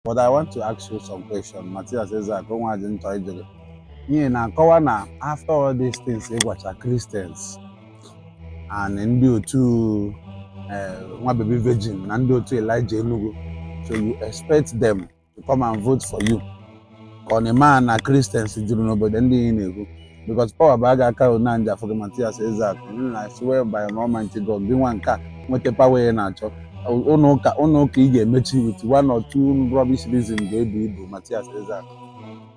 but I want to ask you some question Matias Ezeaku nwa ji nchọ ijere n'ihi na nkọwa na after all these things ị gwacha Christians and ndị otu eh, nwa baby virgin na ndị otu Elijah Enugu so you expect them to come and vote for you ka ọ na ị maa na Christians juru n'obodo ndị ị na-ekwu because power baa gị aka na nja afọ gị Matias Ezeaku I swear by Almighty God gị nwa nke a nweta power ị na-achọ ụnọ ụka ị ga-emechi with one or two rubbish reason ga-ebu ibu Matias Ezeaku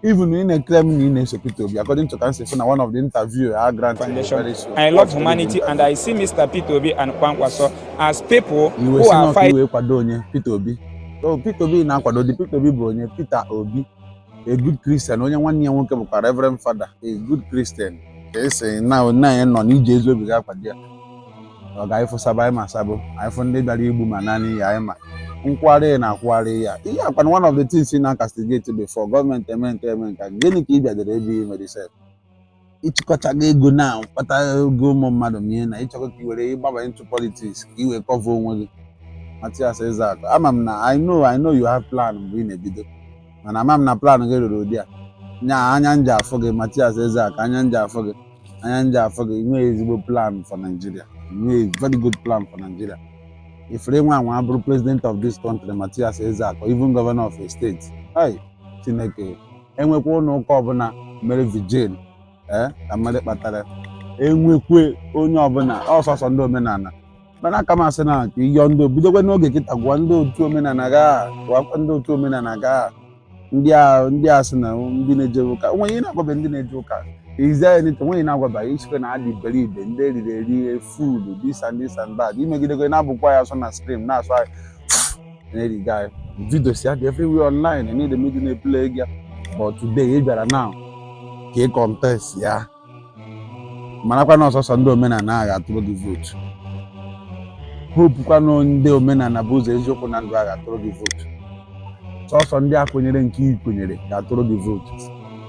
even ị na-eclaim na ị na-eso Peter Obi according to ka m si fụ na one of the interview I granted very soon. I love humanity and I see Mr. Peter Obi and Kwankwaso as people iwe who si are n'ọkụ fighting iwe kwado onye Peter Obi so Peter Obi na-akwado dị Peter Obi bụ onye Peter Obi a good Christian onye nwanne ya nwoke bụkwa Reverend Father a good Christian ka esi na onye anyị nọ na i ji ezi obi gaa kwado ya oga anyị fụ sabo anyị ma sabo anyị fụ ndị bịara igbu ma naanị ya anyị ma nkwụgharị na-akwụgharị ya ihe a ọkwa na one of the things ị na-castigate before gọọmenti eme nke eme nka gịnị ka ị bịadere ebe i mere sef ị chịkọchago ego na mkpata ego ụmụ mmadụ mie na ị chọkọ ka i were gbaba into politics ka i wee cover onwe gị Matias Ezeaku ama m na I know I know you have plan mgbe ị na-ebido mana ama m na plan gị ruru ụdị a nya anya nje afọ gị Matias Ezeaku anya nje afọ gị anya nje afọ gị nwee ezigbo plan for Nigeria nwee very good plan for Nigeria if ever gị nwa wee bụrụ president of this country Matias Ezeaku even governor of a state hei Chineke enwekwa ụlọ ụka ọbụla mere vigil a mara ihe kpatara enwekwe onye ọbụla ọ sọsọ ndị omenala mana aka m asị na ka ịyọ ndị bidokwa n'oge kịta gwa ndị otu omenala gaa gwakwa ndị otu omenala gaa ndị a ndị a sị na ndị na-eje ụka onweghị ihe na-agwabe ndị na-eje ụka is it not onweghị na-agwaba ya ị sịkwa na ha dị iberibe ndị eriri eri fools this and that i megidekwe na-abụkwa ya asụ na skrin that's why Hey guy, videos ya dị everywhere online na ndị media na-eplay gị but today ị bịara now ka ị contest ya marakwa na ọ sọsọ ndị omenala ga-atụrụ gị vootu hope kwa na ndị omenala bụ ụzọ eziokwu na ndụ ga-atụrụ gị vootu sọsọ ndị a kwenyere nke ị kwenyere ga-atụrụ gị vootu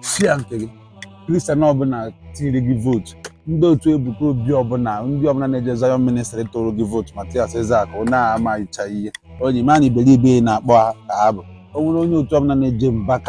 si ya nke gị Christian ọbụla tiri gị vootu ndị otu ebuka obi ọbụla ndị ọbụla na-eje Zion ministry tụrụ gị vootu matias ezeaku onye a amaghịcha ihe ọ na-eme na iberibe ị na-akpọ ha ka ha bụ o nwere onye otu ọbụla na-eje mbaka